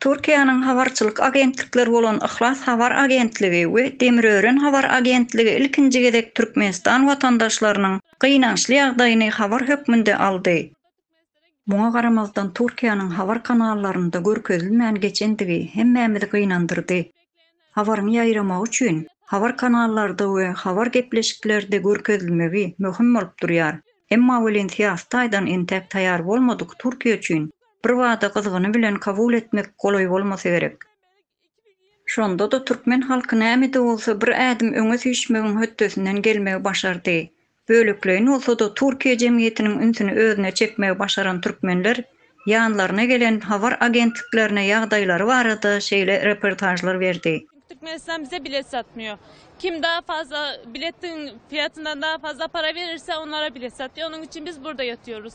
Türkiýäniň habarçylyk agentlikleri bolan Yhlas habar agentligi we Demirören habar agentligi ilkinji gezek Türkmenistan watandaşlarynyň gynançly ýagdaýyny habar hökmünde aldy. Muňa garamazdan Türkiýäniň habar kanallarynda görkezilmän geçendigi hemmämizi gynandyrdy. Habaryň ýaýramagy üçin habar kanallarda we habar gepleşiklerde görkezilmegi möhüm bolup durýar. Emma welin syýasy taýdan entäk taýar bolmadyk Türkiýe üçin birbada gyzgyny bilen kabul etmek golaý bolmasa gerek. Şonda-da türkmen halky näme-de bolsa bir ädim öňe süýşmegiň hötdesinden gelmegi başardy. Bölekleýin bolsa-da Türkiýe jemgyýetiniň ünsüni özüne çekmegi başaran türkmenler ýanlaryna gelen habar agentliklerine ýagdaýlary barada şeýle reportažlar berdi. Türkmenistan bize bilet satmýar. Kim daha fazla biletiň fiyatyndan daha fazla para verirse onlara bilet satýar. Onuň üçin biz burada ýatýarys.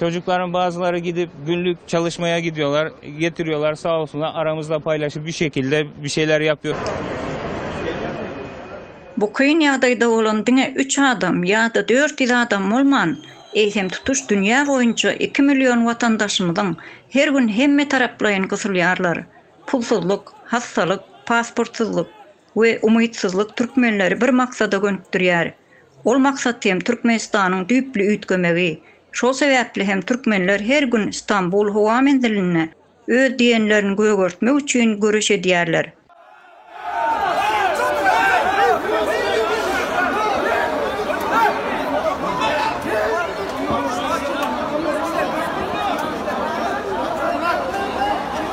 Çocuklaryň bazylary gidip günlük çalyşmaya gidiyorlar getiriyorlar sağ olsunlar aramyzda paylaşıp bir şekilde bir şeyler yapıyoruz. Bu kyn ýagdaýda bolan diňe üç adam ýa-da dört ýüz adam bolman, eýsem tutuş dünýä boýunça iki million watandaşymyzyň her gün hemmetaraplaýyn gysylýarlar, pulsuzlyk, hassalyk, pasportsyzlyk, we umytsyzlyk türkmenleri bir maksada gönükdirýär. Ol maksat hem Türkmenistanyň düýpli üýtgemegi. Şol sebäpli hem türkmenler her gün Stambul howa menzilinde öz diýenlerini gögertmek üçin göreş edýärler.